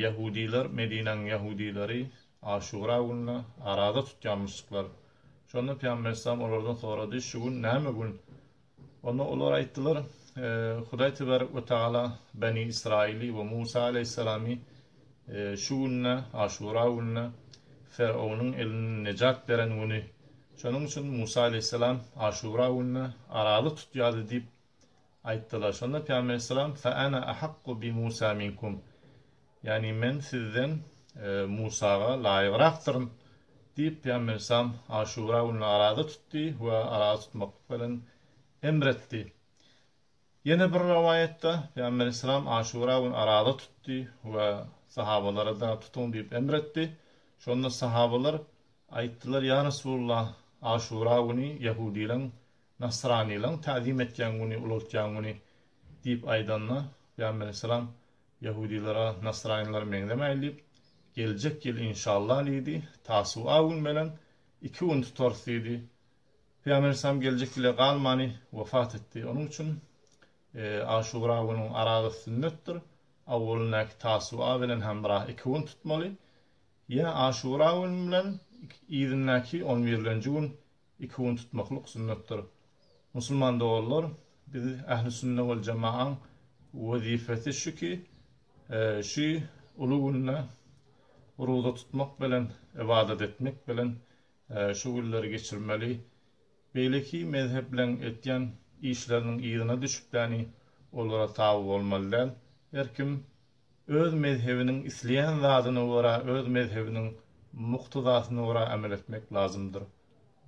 Ýahudylar, Medinäniň ýahudylary Aşura gününe araza tutýarmyşdyklar. Şonda Pygamber yslam olardan sorady, Şu gün näme gün? Onda olar aýtdylar, Hudaý Tebarek we Tagala Beni Ysraýyly we Musa aleýhissalamy şu günde, Aşura gününe, Ferownyň elinden nejat beren güni. Şonuň üçin Musa aleýhissalam Aşura gününe araza tutýardy diýip Aýtdylar. Şonda Pygamber Aleyhisselam, Fe ana ahakku bi Musa minkum, ýagny men sizden Musaga laýygrakdyryn diýip, Pygamber Aleyhisselam Aşura gününi araza tutdy we araza tutmaklyk bilen emr etdi. Ýene bir rowaýatda, Pygamber Aleyhisselam Aşura günü araza tutdy we sahabalara-da tutuň diýip emr etdi. Şonda sahabalar aýtdylar, Ýa Resulullah, Aşura güni ýahudileriň Nasranylaryň täzim etýän güni, ulaltýan güni diýip aýdanda, Pygamber aleyhissalam, Ýahudylara nasranylar meňzemäýil diýip, Geljek ýyl inşallah diýdi, Tasuwa gün bilen iki gün tutarys diýdi. Pygamber aleyhissalam geljek ýyla galmany wepat etdi. Onuň üçin Aşura günüň aragy sünnetdir. Awwalyndaky Tasuwa bilen hemra iki gün tutmaly. Ýene Aşura gün bilen yzyndaky on birlenji gün Iki gün tutmaklyk sünnetdir. Musulman doganlar, biz Ähli Sünne wal Jemaaň wezipesi şu ki, şu uly günde roza tutmak bilen, ybadat etmek bilen şu günleri geçirmeli. Beýleki mezhepleň etýän işleriniň yzyna düşüpläni olara taby bolmaly däl. Her kim Öz mezhebiniň isleýän zadyna görä öz mezhebiniň muktezasyna görä amel etmek lazymdyr.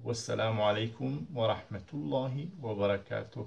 Wessalamu aleykum we rahmetullahi we berekatuh.